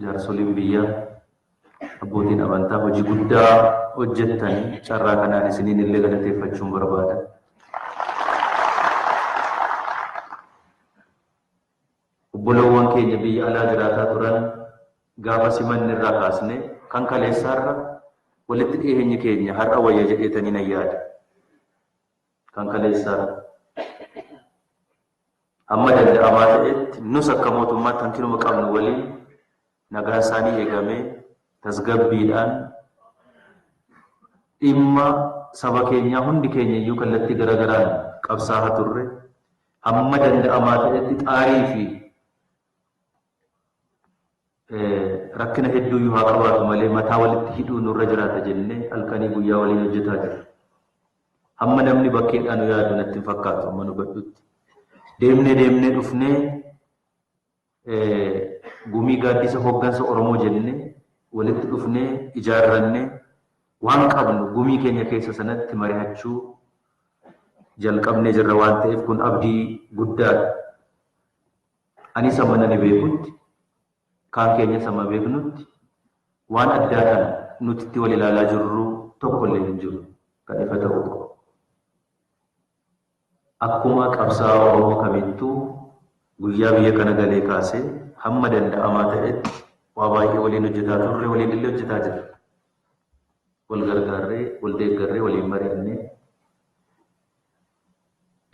jaarsoliin biyyaa, abbootiin amantaa hojii guddaa hojjettan carraa kanaan isiniin illee galateeffachuun barbaada. Obbolawwan keenya biyya alaa jiraataa turan gaafa simanni irraa kaasne kan kaleessaarra walitti dhiyeenyi keenya har'a wayya jedheetanii nan yaada. Kan kaleessaarra. Hamma danda'amaa ta'etti nus akka mootummaatti hankinuma qabnu waliin nagaan isaanii eegamee tasgabbiidhaan dhimma saba keenyaa hundi keenya iyyuu kallattii gara garaan qabsaahaa turre hamma danda'amaa ta'etti xaarii fi Rakkina hedduu iyyuu haa qabaatu malee mataa walitti hidhuun nurra jiraata jennee halkanii guyyaa waliin hojjetaa jirra. Hamma namni bakkeedhaa nu yaadu natti hin fakkaatu hamman hubadhutti. Deemnee deemnee dhufnee gumii gaaddisa hoggansa Oromoo jennee walitti dhufnee ijaarrannee waan qabnu gumii keenya keessa sanatti marihachuu jalqabnee jirra waan ta'eef kun abdii guddaadha. Anis hamman ani beekutti, kaan keenyas hamma beeknutti waan addaa kana nuti itti wal ilaalaa jirru tokkollee hin jiru. Kan ifa ta'uu qabu. Akkuma qabsaa'aa Oromoo kamittuu guyyaa biyya kana galee kaasee hamma danda'amaa ta'etti waa baay'ee waliin hojjetaa turre, waliinillee hojjetaa jirra. Wal gargaarree, wal deeggarree, waliin mari'annee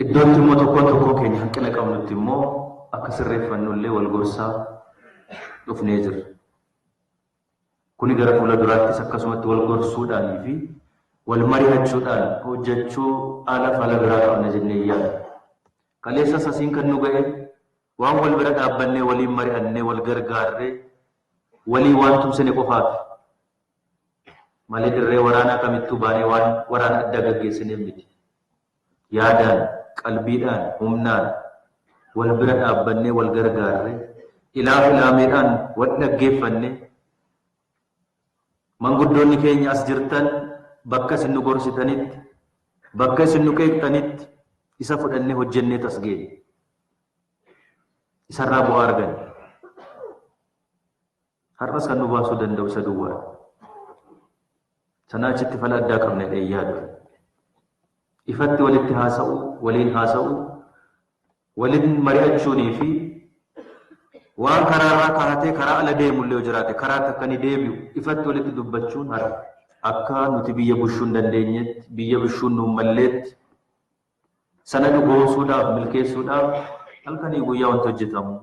Iddootti immoo tokkoon tokkoon keenya hanqina qabnutti immoo akka sirreeffannu illee wal gorsaa dhufnee jirra. Kuni gara fuula duraattis akkasumatti wal gorsuudhaanii fi wal mari'achuudhaan hojjechuu ala fala biraa qabna jennee hin yaadnu. Kaleessas asiin kan nu ga'e waan wal bira dhaabbannee waliin mari'annee wal gargaarree walii waan tumsine qofaati. Malee dirree waraanaa kamittuu baanee waan waraana addaa gaggeessineef miti. Yaadaan, qalbiidhaan, humnaan wal bira dhaabbannee wal gargaarree, ilaaf ilaameedhaan wal dhaggeeffannee, manguddoonni keenya as jirtan bakka isin nu gorsitanitti, bakka isin nu qeeqxanitti isa fudhannee hojjenneet as geenye. Isarraa bu'aa arganne. Har'as kan nu baasuu danda'u isa duwwaadha. Sanaa achitti fala addaa qabna jedhee hin yaadu. Ifatti walitti haasa'u, waliin haasa'u, waliin mari'achuunii fi waan karaa irraa kaa'atee karaa ala deemullee yoo jiraate karaatti akka inni deebi'u ifatti walitti dubbachuun har'a akka nuti biyya bushuu hin dandeenyetti, biyya bushuu nu hin malleetti, Sana dhugoomsuudhaaf, milkeessuudhaaf halkanii guyyaa wanti hojjetamu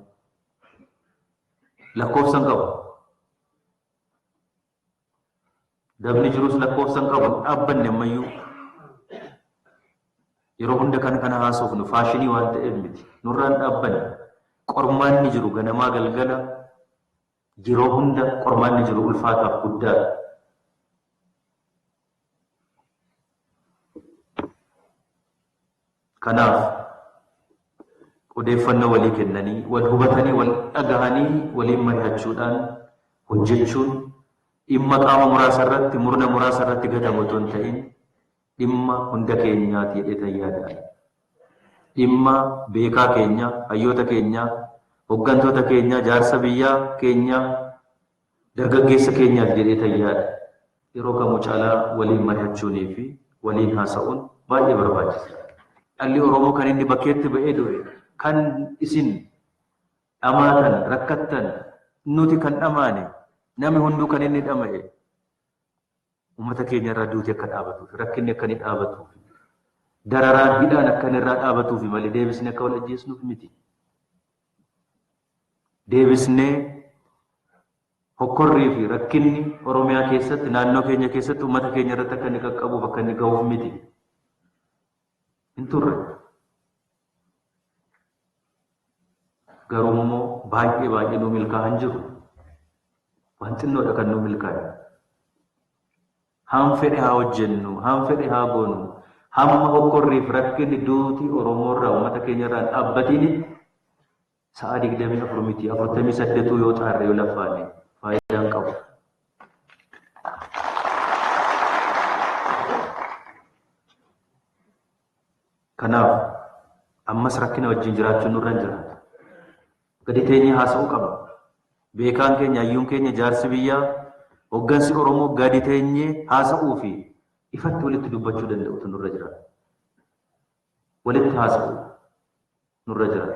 lakkoofsa hin qabu. Dabni jirus lakkoofsa hin qabu. Dhaabbanni ammayyuu yeroo hunda kan kana haasofnu faashinii waan ta'eef miti. Nurraan dhaabbanne qormaanni jiru ganamaa galgala Yeroo hunda qormaanni jiru ulfaataaf guddaadha. Kanaaf, odeeffannoo walii kennanii, wal hubatanii, wal dhagahanii waliin marihachuudhaan hojjechuun dhimma qaama muraasa irratti, murna muraasa irratti gatamu otoo hin ta'iin dhimma hunda keenyaa ti jedheetan yaada ani. Dhimma beekaa keenya, hayyoota keenya, hoggantoota keenya, jaarsa biyyaa keenya, dargaggeessa keenyaa ti jedheetan yaada. Yeroo kamuu caalaa waliin marihachuunii fi waliin haasa'uun baay'ee barbaachisa dha. Dhalli Oromoo kan inni bakkeetti ba'ee du'e, kan isin dhamaatan, rakkattan, nuti kan dhamaane, nami hunduu kan inni dhama'e, Ummata keenya irraa duuti akka dhaabatuufi rakkinni akka inni dhaabatuufi dararaan hidhaan akka inni irraa dhaabatuufi malee deebisnee akka wal ajjeesnuuf miti. Deebisnee hokkorrii fi rakkinni Oromiyaa keessatti naannoo keenya keessatti ummata keenya irratti akka inni qaqqabuuf akka inni gahuuf miti. hin turre. Garuu immoo baay'ee baay'ee nuu milkaa'aa hin jiru. Waan xinnoodha kan nuu milkaa'e. Haam fedhe haa hojjennu, haam fedhe haa goonu, hamma hokkorriif rakkinni duuti Oromoo irraa uummata keenya irraa dhaabbatini Sa'aa 24 miti 48 yoo xaarre yoo laffaanne faayidaan qabu. Kanaaf ammas rakkina wajjin jiraachuun nurra hin jiraatu. Gadi teenyee haasa'uu qabna. Beekaan keenya, hayyuun keenya, jaarsi biyyaa, hoggansi Oromoo gadi teenyee haasa'uu fi ifatti walitti dubbachuu danda'utu nurra jiraata. Walitti haasa'uu. nurra jira.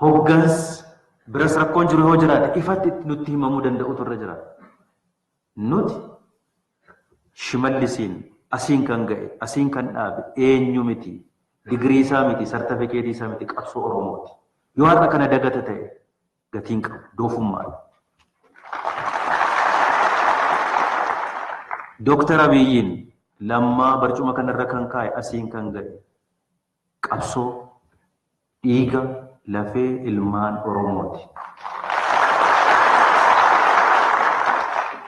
Hoggans biras rakkoon jiru yoo jiraate ifatti nutti himamuu danda'utu irra jira. Nuti shimallisiin asiin kan ga'e, asiin kan dhaabe eenyu miti, digirii isaa miti, sartifikeetii isaa miti qabsoo Oromooti. Yoo har'a kana dagata ta'e gatii hin qabu. Doofummaadha. Doktar Abiyyiin Lammaa barcuma kanarra kan kaa'e asiin kan ga'e qabsoo dhiiga lafee ilmaan Oromooti.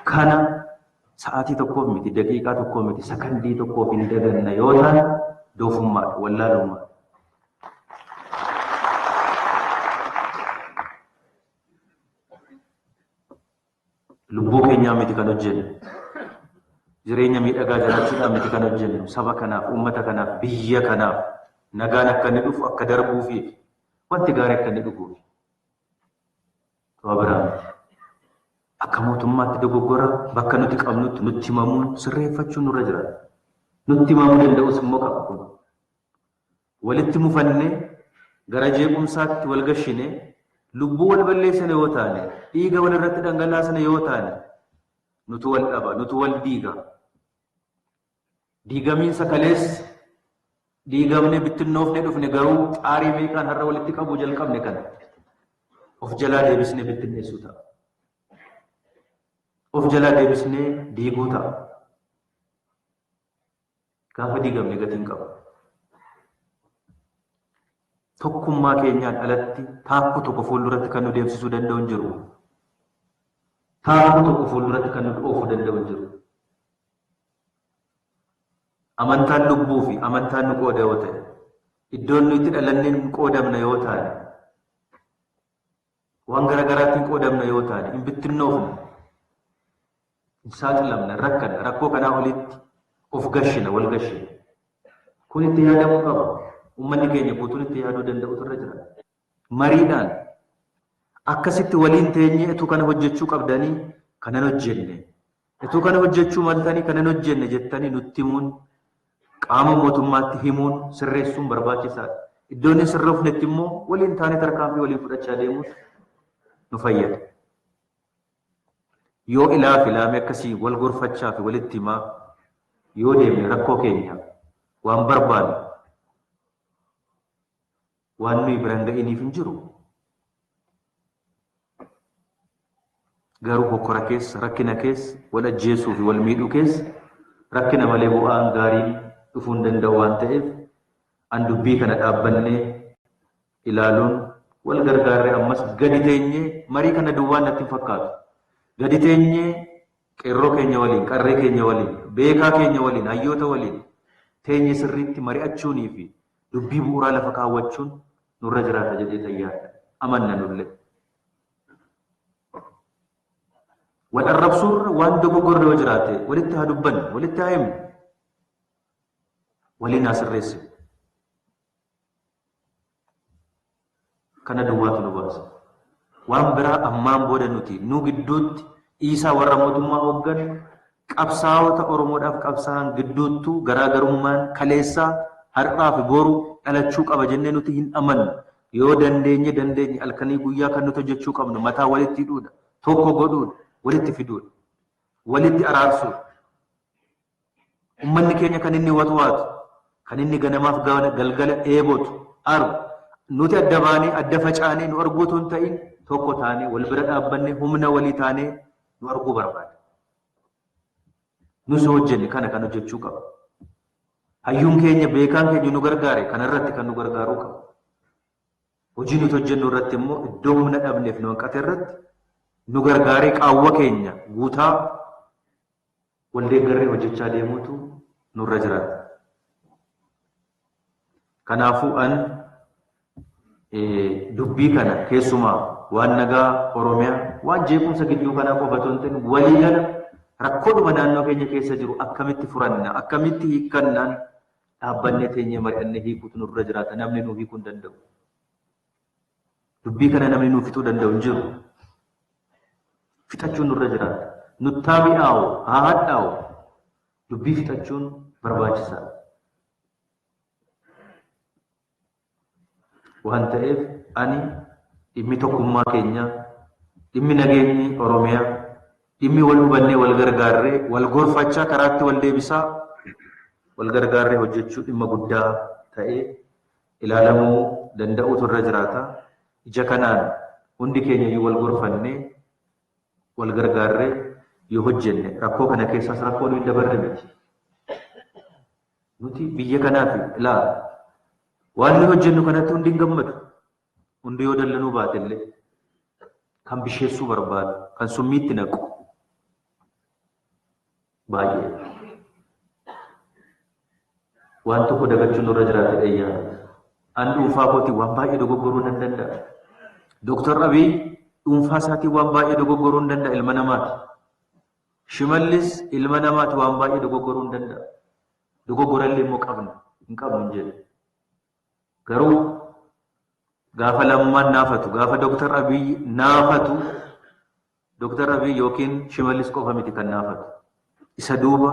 Kana sa'aatii tokkoof miti, daqiiqaa tokkoo miti, sakandii tokkoof hin daganna yoo ta'an doofummaadha, wallaalummaadha. Lubbuu keenyaa miti kan hojjennu. Jireenya miidhagaa jiraachuudhaan miti kan hojjennu. Saba kanaaf, uummata kanaaf, biyya kanaaf nagaan akka inni dhufu akka darbuufi wanti gaarii akka inni dhufuufi. Sababa biraa miti. Akka mootummaatti dogoggora bakka nuti qabnutti nutti himamuun sirreeffachuun nurra jira. Nutti himamuu danda'us immoo qaba kun. walitti mufanne, gara jeequmsaatti wal gashine, lubbuu wal balleessina yoo taane, dhiiga wal irratti dhangalaasina yoo taane, nutu wal dhaba, nutu wal diiga. Diigamiinsa kaleessa diigamne, bittinnoofne dhufne garuu xaarii meeqaan har'a walitti qabuu jalqabne kana of jalaa deebisnee bittinneessuu ta'a. Of jalaa deebisnee diiguu ta'a. Gaafa diigamne gatii hin qabnu. Tokkummaa keenyaan alatti taakkuu tokko fuulduratti kan nu deemsisuu danda'u hin jiru. Taakkuu tokko fuulduratti kan nu oofuu danda'u hin jiru. Amantaan lubbuu fi amantaan nu qooda yoo ta'e, iddoon nu itti dhalanne hin qoodamna yoo taane, Waan gara garaatti hin qoodamna yoo taane, hin bittinnoofna, hin saaxilamna, hin rakkanna, rakkoo kanaa olitti of gashina, wal gashina. Kun itti yaadamuu qaba. Ummanni keenya guutuun itti yaaduu danda'utu irra jira. Mariidhaan akkasitti waliin teenyee utuu kana hojjechuu qabdanii kana hin hojjenne, Utuu kana hojjechuu maltanii kana hin hojjenne jettanii nutti himuun, qaama mootummaatti himuun, sirreessuun barbaachisaadha. Iddoo inni hin sirroofnetti immoo waliin taanee tarkaanfii waliin fudhachaa deemuun nu fayyada. Yoo ilaa fi laamee akkasii wal gorfachaa fi walitti himaa yoo deemne rakkoo keenya waan barbaannu Waan nuyi bira hin ga'iniif hin jiru. Garuu hokkora keessa, rakkina keessa, wal ajjeesuu fi wal miidhuu keessa rakkina malee bu'aan gaariin dhufuu hin danda'u waan ta'eef an dubbii kana dhaabbannee ilaaluun wal gargaarree ammas gadi teenyee marii kana duwwaan natti hin fakkaatu. Gadi teenyee qeerroo keenya waliin, qarree keenya waliin, beekaa keenya waliin, hayyoota waliin teenyee sirriitti mari'achuunii fi Dubbii bu'uuraa lafa kaawwachuun nurra jiraata jedhee tan yaaddu, amanna nullee. Wal arrabsuurra waan dogoggorre yoo jiraate walitti haa dubbannu, walitti haa himnu, waliin haa sirreessinu. Kana duwwaatu nu baasa. Waan biraa ammaan booda nuti nu gidduutti dhiisaa warra mootummaa hoogganu, qabsaa'ota Oromoodhaaf qabsaa'an gidduuttuu garaa garummaan kaleessaa, har'aa fi boru dhalachuu qaba jennee nuti hin amannu. Yoo dandeenye dandeenye halkanii guyyaa kan nuti hojjechuu qabnu mataa walitti hidhuudha, tokko godhuudha, walitti fiduudha, walitti araarsuudha. Ummanni keenya kan inni watwaatu, kan inni ganamaaf galgala dheebotu, argu, nuti adda baanee, adda facaanee nu arguu utuu hin ta'iin tokko taanee, wal bira dhaabbannee, humna walii taanee nu arguu barbaada. Nus yoo hojjenne kana kan hojjechuu qabnu. Hayyuun keenya, beekaan keenya nu gargaare kana irratti kan nu gargaaruu qabu. Hojii nuti hojjennu irratti immoo iddoo humna dhabneef nu hanqate irratti nu gargaaree qaawwa keenya guutaa Wal deeggarree hojjechaa deemuutu nurra jiraata. Kanaafuu an dubbii kana keessumaa waan nagaa Oromiyaa waan jeequmsa gidduu kanaa qofa otoo hin ta'in waliigala rakkoodhuma naannoo keenya keessa jiru akkamitti furanna akkamitti hiikkannaan dhaabbannee teenyee mari'annee hiikuutu nurra jiraata namni nuu hiikuu hin danda'u. Dubbii kana namni nu fixuu danda'u hin jiru. Fixachuun nurra jiraata. Nutti haa mi'aawu, haa hadhaa'u, dubbii fixachuun barbaachisaadha. Waan ta'eef ani dhimmi tokkummaa keenyaa, dhimmi nageenyi Oromiyaa, dhimmi wal hubannee wal gargaarree, wal gorfachaa karaatti wal deebisaa wal gargaarree hojjechuu dhimma guddaa ta'ee ilaalamuu danda'uutu irra jiraata. Ija kanaan hundi keenya iyyuu wal gorfannee, wal gargaarree yoo hojjenne rakkoo kana keessaas rakkoo nuyi dabarre miti. Nuti biyya kanaaf ilaa waan nuyi hojjennu kanatti hundi hin gammadu. Hundi yoo dallanuu baate illee kan bisheessuu barbaadu, kan summiitti naqu. baay'ee waan tokko dagachuun nurra jiraate dheeyyaa an dhuunfaa kooti waan baay'ee dogoggoruu nan danda'a. Dooktar Abiy dhuunfaa isaatiin waan baay'ee dogoggoruu hin danda'a ilma namaati. Shimallis ilma namaati waan baay'ee dogoggoruu hin danda'a. Dogoggorallee immoo qabna hin qabnu hin jedhu. Garuu gaafa lammaan naafatu gaafa Dooktar Abiy naafatu Doktar Abiy ykn Shimallis qofa miti kan naafate. Isa duuba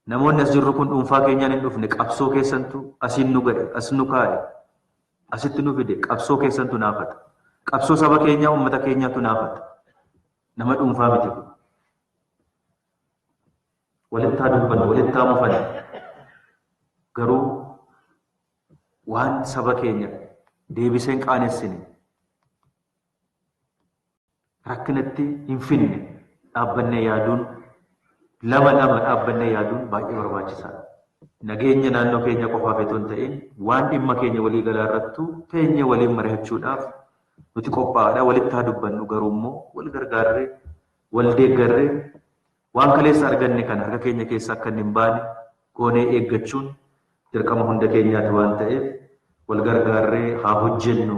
namoonni as jirru kun dhuunfaa keenyaan hin dhufne qabsoo keessantu asiin nu ga'e, as nu kaa'e, asitti nu fide qabsoo keessantu naafate. Qabsoo saba keenyaa, uummata keenyaatu naafate. Nama dhuunfaa miti kun. Walittaa dubbanna, walittaa mufanna. Garuu waan saba keenya deebisee hin qaanessine rakkinatti hin fidne dhaabbannee yaaduun lama lama dhaabbannee yaaduun baay'ee barbaachisaadha. Nageenya naannoo keenya qofaaf itoo hin ta'in waan dhimma keenya walii galaa irrattu teenyee waliin mari'achuudhaaf nuti qophaa'aadha. Walitti haa dubbannu garuu immoo wal gargaarree wal deeggarree waan kaleessa arganne kana harka keenya keessa akka hin baane goonee eeggachuun dirqama hunda keenyaati waan ta'eef wal gargaarree haa hojjennu.